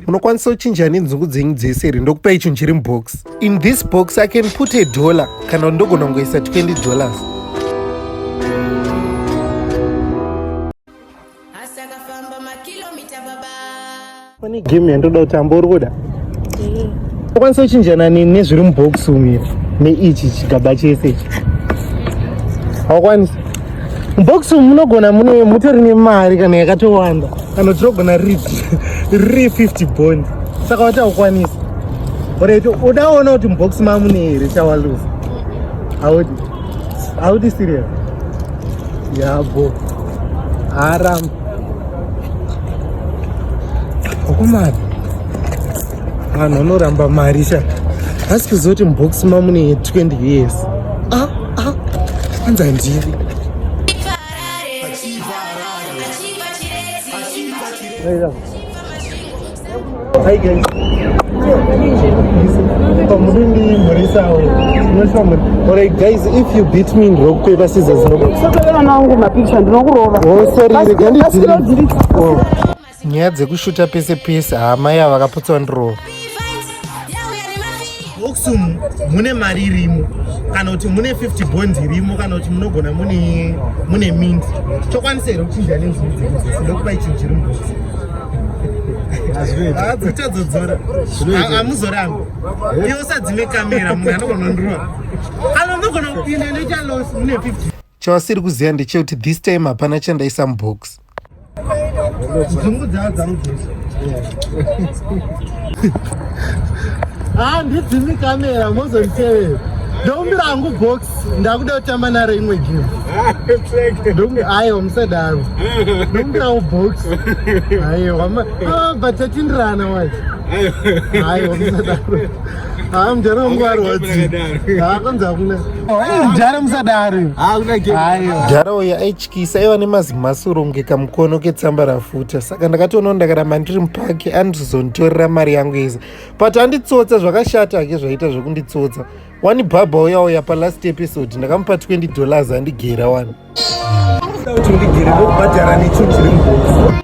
unokwanisa kuchinja nenzungu dzenyu dzese here ndokupa icho chiri mubox in this box i can put a dollar kana ndogona kungoisa 20 dollars pane game yandoda kutamba uri kuda unokwanisa kuchinjana nezviri mubox umu neichi chigaba chese ichi hawakwanisa mubox umu munogona mune mutori nemari kana yakatowanda kana uchirogona riri 50 bond saka wataukwanisa oreto udaona kuti mubox mamune here chawaluza haudi haudi sirius yabo haram okomari vanhu vanoramba mari sha asi kuziva kuti mubox mamune 20 years ah, ah, anza ndiri Hi guys. Pamudindi muri sawa. Munoshwa muri. Alright guys, if you beat me ndokwe basiza zero. Sokera nangu mapicha ndinokurova. Oh sorry, regandi. Nyaya dzekushuta pese pese, hama yava vakaputsa ndiro. box umu mune mari irimo kana kuti mune 50 bonds irimo kana kuti munogona mune mune mint chokwanisa here kuchinja nenzvindokupa ichinhu chiri mubox adzichadzodzora amuzoramba iosadzime kamera munhu anogona ndirova anogona kupinda noita los mune 50 Chawasiri kuziva ndechekuti this time hapana chandaisa mubox. Handidzimi ah, kamera mozonditevera. Ndokumbira hangu box ndakuda kutamba naro imwe game. Aiwa musadaro. Ndokumbira hangu box. Aiwa ah, but tatindirana wacho. Aiwa musadaro. Ah, mjara wangu arwadzi. Ah, kwanza hakuna. Eh, mjara msadari. Ah, hakuna game. Hayo. Mjara uya aityisa aiva nemazimasuro kunge kamukono ketsamba rafuta. Saka ndakatoona ndakaramba ndiri mupaki andizonditorera mari yangu yese. But anditsotsa zvakashata hake zvaita zvekunditsotsa. Wani bhabha uya uya pa last episode ndakamupa 20 dollars andigera wani. Ndauti ndigere ndokubhadhara necho chiri mubhokisi.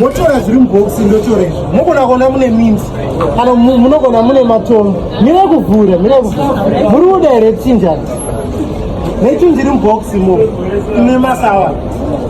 motora zviri mubhokisi ndotora izvi mogona kuona mune minzi kana munogona mune matombo mire kuvhura mire kuvhura muri kuda here chinjani nechunjiri mubhokisi mo ine masawa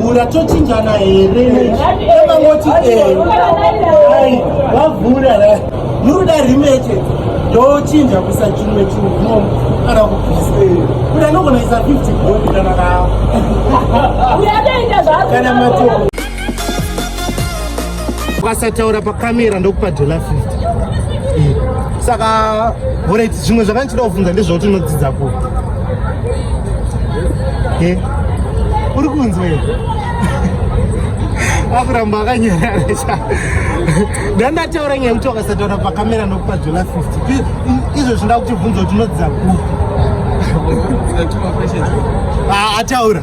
vhura tochinjana here emangoti eh, ai vavhura muruda rimeche ndochinja kusa chimwe chimwe kana kubvise kuti anogona isa 50 bodi kana kaa kana matoo ukasataura pakamera ndokupa dola 50 eh, saka orit zvimwe zvakandichida kuvhunza ndezvauti unodzidza ku e eh, uri kunzwa e akuramba akanyarara cha ndandataura nyaya kuti wakasataura pakamera ndokupa dola 50 izvo zvinda kuti vhunza kuti unodzidza ku ah, ataura